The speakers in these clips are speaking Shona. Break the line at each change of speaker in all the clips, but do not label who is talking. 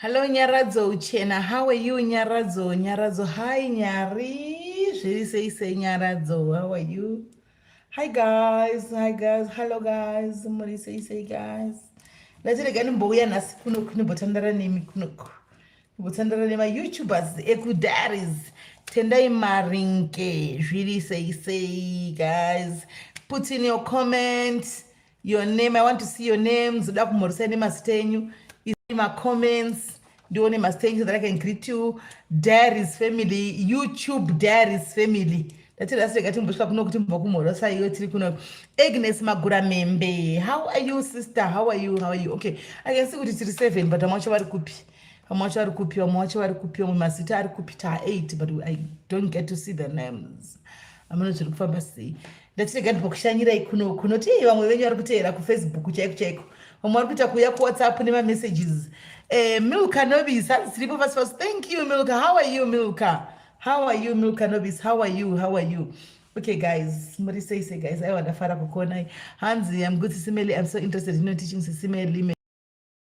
Hello Nyaradzo Uchena, how are you Nyaradzo? Nyaradzo, hi Nyari. Zviri sei sei Nyaradzo, how are you? Hi guys, hi guys, hello guys. Muri sei sei guys. Ndatirega ndimbouya nhasi kuno kunobotandara nemi kunoku. Kutandara nemaYoutubers ekuDaris tendai maringe zviri sei sei guys put in your comment your name i want to see your names da kumhorisa nemazita enyu isai macomments ndione mazita enyu so that i can greet you daris family youtube daris family ndatirasirega timbosvika kuno kuti mubva kumhorosa iyo tiri kuno agnes magura membe how are you sister how are you how are you okay i can see kuti tiri seven but vamwe vacho vari kupi vamwe wacho vari kupi vamwe wacho vari kupi vamwe mazita ari kupi ta 8 but i don't get to see the names amene zviri kufamba sei ndatirega ndipokushanyirai kuno kuno ti vamwe venyu vari kuteera kufacebook chaiko chaiko vamwe vari kuita kuuya kuwhatsapp nemamessages eh, milka nobis hanzi tiripo pasi pasi thank you milka how are you milka how are you milka nobis how are you how are you okay guys muri sei sei guys aiwa ndafara kukuonai hanzi amgutsi simeli i'm so interested in your teaching sisimeli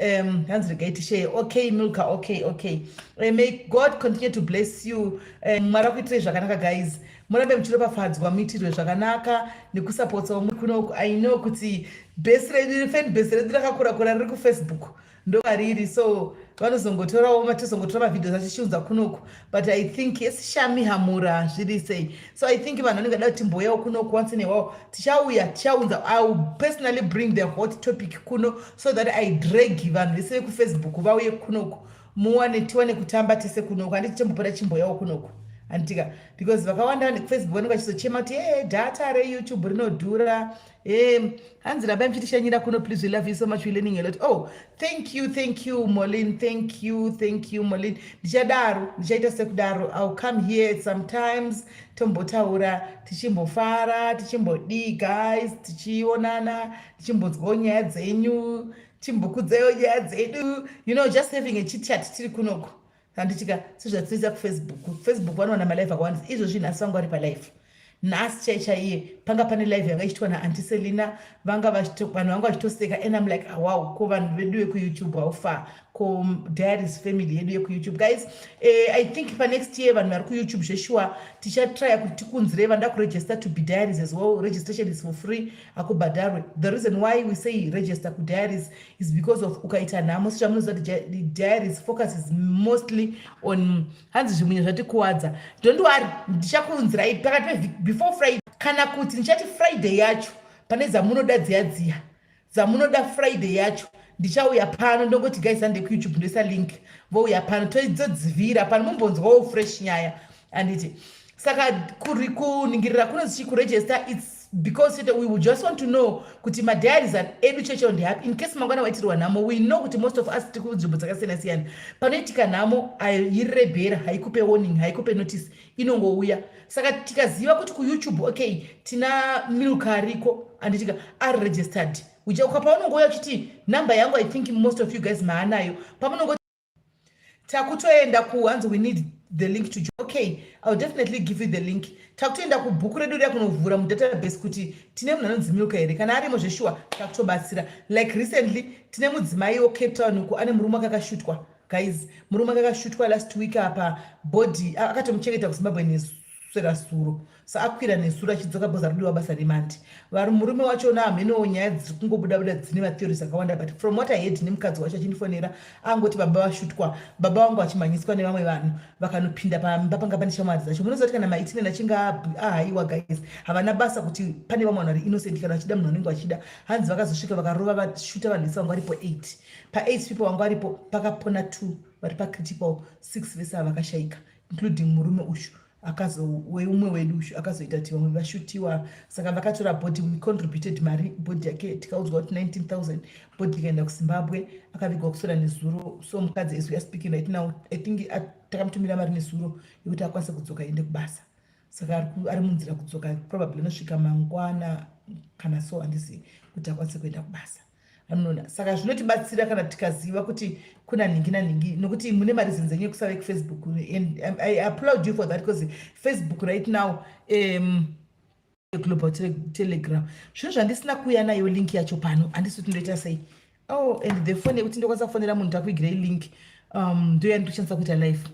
um hanzi regai tisheye okay milka okay okay uh, may god continue to bless you eh, mwari um, akuitirei zvakanaka guys murambe muchiropafadzwa muitirwe zvakanaka nekusapotsawo muri kuno i know kuti bhesi redu fan bhesi redu rakakurakura riri kufacebook ndovariri so vanozongotorawo matizongotora mavidios achichiunza kunoku but i think yes shami hamura zviri sei so i think vanhu vanenge da kuti mboyawo kuno kuwansi newawo tichauya tichaunza iwill personally bring the hot topic kuno so that i drag vanhu vese vekufacebook vauye kunoku muwane tiwane kutamba tese kunoku handiti tembopota chimboyawo kunoku handitika because vakawanda nekufacebook vanenge vachizochema kuti e data reyoutube rinodhura Um, hanzi rabai mchitishanyira kuno please we love you so much we learning a lot oh thank you thank you molin thank you thank you molin ndichadaro ndichaita sekudaro ill come here sometimes tombotaura tichimbofara tichimbodii guys tichionana tichimbonzwawo nyaya dzenyu timbokudzewo nyaya dzedu you know just having a chitchat tiri kunoko handitika sezvatinoita kufacebook facebook vanowana malive akawandisa izvo zvinhu asi vanga vari palive nhasi chai chaiye panga pane live yanga ichitwa naanti selina vanga vanhu vanga vachitoseka and am like awow ah, ko vanhu vedu vekuyoutube haufa ko diaries family yedu yekuyoutube guys uh, i think panext year vanhu vari kuyoutube zveshuwa tichatrya kuti tikunzirei vanoda kuregister to be diaries as well registration is for free akubhadharwe the reason why we say register kudiaries is because of ukaita nhamo sechamunoziva kuti diaries focus is mostly on hanzi zvimunye zvatikuwadza don't worry ndichakuunzirai pakati pevhiki before friday kana kuti ndichati friday yacho pane dzamunoda dziya dziya dzamunoda friday yacho ndichauya pano ndongoti guys ande kuyoutube ndoisa link vouya pano toidzo dzivira pano mumbonzwawo fresh nyaya anditi saka kuningirira kuno zichi kuregister its because chete we just want to know kuti madiaries edu cheche on happy in case mangwana waitirwa nhamo we know kuti most of us tiri kunzvimbo dzakasiyana siyana panoitika nhamo airebhera haikupe warning haikupe notice inongouya saka tikaziva kuti kuyoutube okay tina milka ariko anditika ari registered uchakuka paunongouya uchiti number yangu i think most of you guys maanayo pamunongo takutoenda ku hanzi we need the link to okay iwill definitely give you the link takutoenda kubhuku redu riya kunovhura mudatabase kuti tine munhu anonzi milka here kana arimo zveshuwa takutobatsira like recently tine mudzimai wocape town uku ane murume akakashutwa guys murume akakashutwa last week apa body akatomuchengeta kuzimbabwe nesu kuswera suro sa akwira nesuro achidzoka bhoza rudiwa basa remandi vari murume wacho naamhenowo nyaya dziri kungobuda buda dzine matheories akawanda but from what i head nemukadzi wacho achindifonera angoti baba vashutwa baba vangu vachimhanyiswa nevamwe vanhu vakanopinda pamba panga pane shamwari dzacho munozoti kana maitineni achinge ahaiwa guys havana basa kuti pane vamwe vanhu vari innocent kana vachida munhu anenge vachida hanzi vakazosvika vakarova vashuta vanhu vese vangu varipo eight paeight people vangu varipo pakapona two vari pacritical six vese ava vakashaika including murume uyu akazoweumwe wedu uyu akazoita kuti vamwe vashutiwa saka vakatora body we contributed mari body yake tikaudzwa kuti 19000 body ikaenda kuzimbabwe akavigwa kusora nezuro so mukadzi as weare speaking right now i think takamutumira mari nezuro yekuti akwanise kudzoka ende kubasa saka ari munzira kudzoka probably anosvika mangwana kana so handisi kuti akwanise kuenda kubasa anoona saka zvinotibatsira kana tikaziva kuti kuna nhingi nanhingi nokuti mune mareasons enyu ekusave kufacebook and um, i applaud you for that because facebook right now um, global telegram zvinhu zvandisina kuuya nayo link yacho pano handisi kuti ndoita sei oh and the fone yekuti ndokwanisa kufonera munhu takuigira ilink um, ndoya nditoshandisa kuita life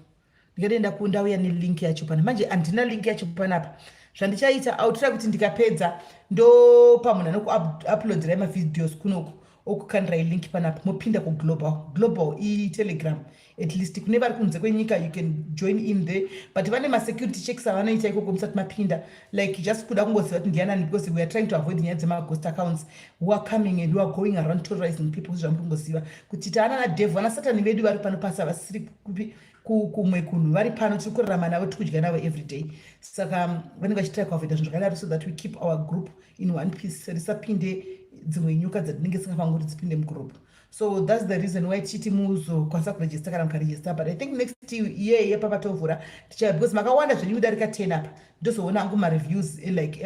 ndikadai ndakundauya nelink yacho pana manje handina link yacho panapa zvandichaita autira kuti ndikapedza ndopa munhu anokuuploadirai mavideos kunoku okukandirai link panapa mopinda kuglobal global itelegram at least kune vari kunze kwenyika you can join in there but vane masecurity checks avanoita ikoko musati mapinda like just kuda kungoziva kuti ndiyanani because weare trying to avoid nyaya dzemagost accounts who are coming and who are going around terrorizing people zvamuringoziva kuti taana nadevhu ana satani vedu vari pano pasi havasiri kupi kumwe kunhu vari pano tiri kurarama navo tiri kudya navo every day saka um, vanenge vachitira kuavoida zvinhu zvakadaro so that we keep our group in one piece risapinde dzimwe nyuka dzatinenge singafanguri dzipinde mugurupu so thats the reason why tichiti muzokwanisa kuregista kana mukaregista but i think next year yepa patovhura ticha because makawanda zvenyu kudarika ten apa ndozoona angu mareviews eh, like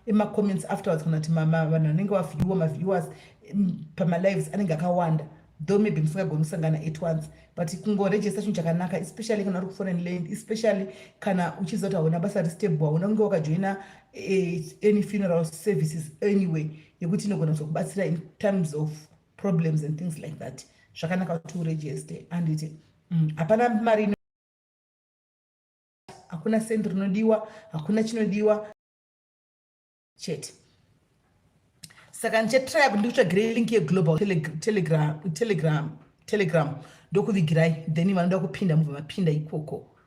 emacomments ema afterwards kana kuti vanhu vanenge vavhiewa maviewers mm, pamalives anenge akawanda though maybe musingagoni kusangana at once but kungoregista chinhu chakanaka especially kana uri kufona neland especially kana uchiziva kuti hauna basa restable hauna kunge wakajoina eh, any funeral services anyway yekuti inogona kuzokubatsira in terms of problems and things like that zvakanaka kuti uregiste anditi mm, hapana mm, mari hakuna sendi rinodiwa hakuna chinodiwa chete saka ndichatraya kuti ndikutsvagire link yeglobal telegram telegram telegram ndokuvigirai then vanoda kupinda mubva mapinda ikoko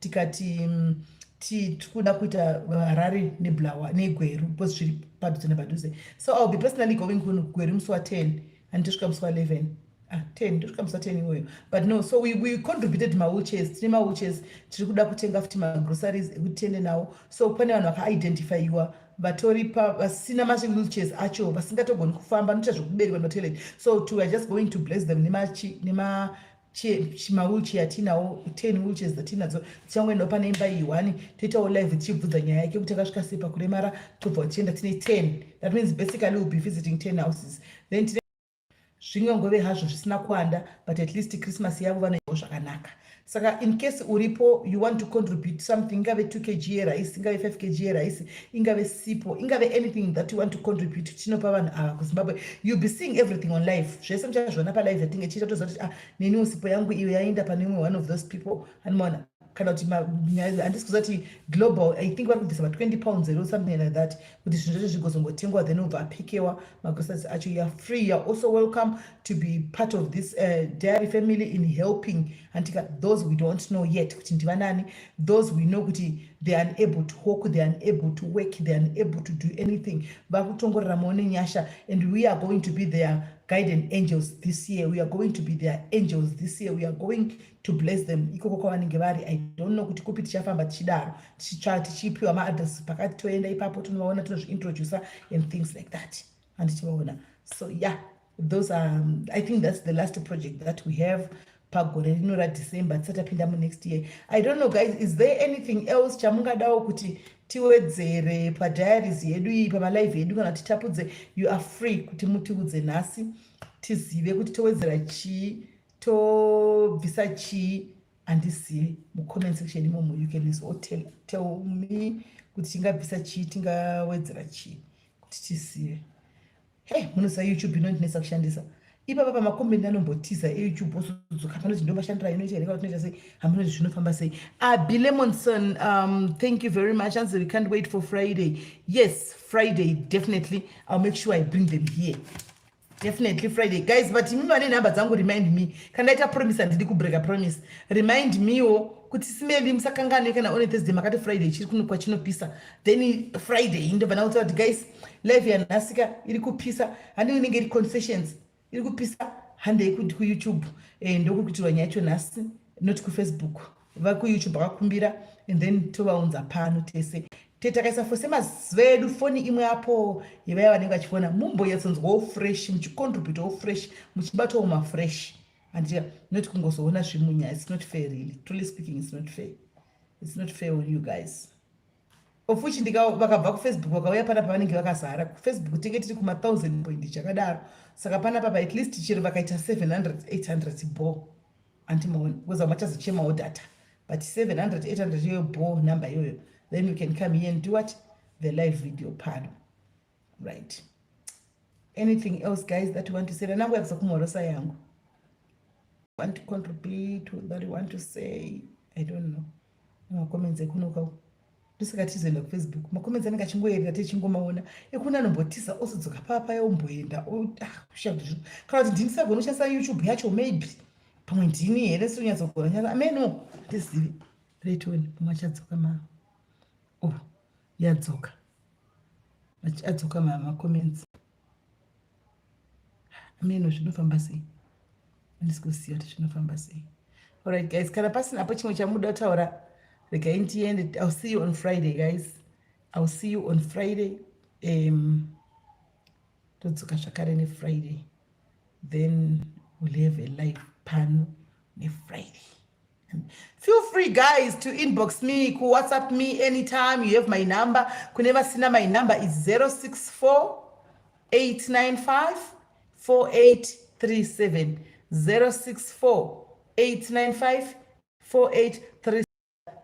tikati mm, tikuda kuita harare neblawa negweru because zviri padhuze nepadhuze so iwill be personally going kuno gweru musi wa10 and tosvika musi wa11 ah, 10 tosvika musi wa10 iwoyo but no so we, we contributed mawheelchairs tine mawheelchairs tiri kuda kutenga futi magroceries ekuti tiende nawo so pane vanhu vakaidentifyiwa vatori pa vasina mawheelchairs acho vasingatogoni kufamba noita zvekuberwa nematoilet so to weare just going to bless them nemachi nema, nema mawilchair atinawo ten wheelchairs dzatinadzo dzichangoendawo pane imba iyi one toitawo live tichibvunza nyaya yake kuti akasvika sei pakuremara tobva tichienda tine ten that means basically will be visiting ten houses then tine zvingangove hazvo zvisina kuanda but at least christmas yavo vanoiwo zvakanaka saka in case uripo you want to contribute something ingave two kg yeraisi ingave five kg yeraisi ingave sipo ingave anything that you want to contribute tinopa vanhu ava kuzimbabwe youll be seeing everything on life zvese muchazviona palive yatinge chiita toziva kuti ah neniwo sipo yangu iyo yaenda pane imwe one of those people animoona kana kuti handisi kuziva kuti global i think vari kubvisa ma20 pounds ero something like that kuti zvinhu zvacho zvigozongotengwa then obva apikewa magrosas acho youare free youare also welcome to be part of this uh, dairy family in helping antika those we don't know yet kuti ndivanani those we know kuti they are unable to hawk they are unable to work they are unable to do anything vakutongorera maone nyasha and we are going to be their guiding angels this year we are going to be their angels this year we are going to bless them ikoko kwavanenge vari i don't know kuti kupi tichafamba tichidaro tichipiwa maadress pakati toenda ipapo tinovaona tinozviintroducer and things like that handiti vaona so yeah those are um, i think that's the last project that we have pagore rino radecember tisati apinda munext year i don't know guys is there anything else chamungadawo kuti tiwedzere padiaries yedu iyi pamalive yedu kana kuti tapudze you are free kuti mutiudze nhasi tizive kuti towedzera chii tobvisa chii handizivi mucomment section imomo you can so tell, tell me kuti tingabvisa chii tingawedzera chii kuti tisiye hey munoziva youtube inondinetsa kushandisa ipapa pamakombendi anombotiza eyoutube osudzuka panoti ndomashandira inoita here katinoita sei hamunoti zvinofamba sei abi lemonson um, thank you very much anzi we can't wait for friday yes friday definitely ill make sure i bring them here definitely friday guys but imi vane nhamba dzangu remind me kana ndaita promise handidi kubreaka promise remind mewo kuti simebi musakanganwe kana one thursday makati friday ichiri kuno kwachinopisa then friday indobva ndakutsira kuti guys live yanhasika iri kupisa handiwe inenge iri confessions iri kupisa handei kuti kuyoutube eh, ndokuri kutirwa nyaya yacho nhasi not kufacebook vakuyoutube vakakumbira and then tovaunza pano tese te takaisa fose maziva edu foni imwe apo yevaya vanenge vachifona mumbonyatsonzwawo fresh muchicontributawo fresh muchibatawo mafresh handiti not kungozoona zvimunya its not fair really truly speaking its not fair its not fair on you guys of which ndika vakabva kufacebook vakauya pana pavanenge vakazara kufacebook tinge tiri kuma thousand point chakadaro saka pana papa at least chero vakaita 700 800 bo antimaoni kuza machazochemawo data but 700 800 iyoyo bo number iyoyo then you can come here and do what the live video pano right anything else guys that you want to say nanangu yakuza kumhorosa yangu want to contribute that you want to say i don't know macomments ekunoka ndosaka tizoenda kufacebook macomments anenge achingoyerera tichingomaona ekuna anombotiza osodzoka paa paya omboenda ah, kushavdizvo kana kuti ndindisagona kushandisa youtube yacho maybe pamwe ndini here sonyatsogoa nyasa ameno handizivi retoni pamwe achadzoka ma o oh, yadzoka adzoka macomments ameno zvinofamba sei andisi kuziva kuti zvinofamba sei alright guys kana pasina apo chimwe chamuda kutaura regai ndiende ill see you on friday guys ill see you on friday um, todzoka zvakare nefriday then we'll have a life pano nefriday Feel free guys to inbox me ku WhatsApp me anytime you have my number. Kune vasina my number is 064 895 4837 064 895 4837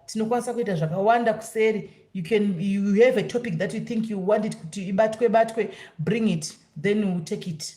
tinokwanisa kuita zvakawanda kuseri you can you have a topic that you think you want it kuti ibatwe batwe bring it then we take it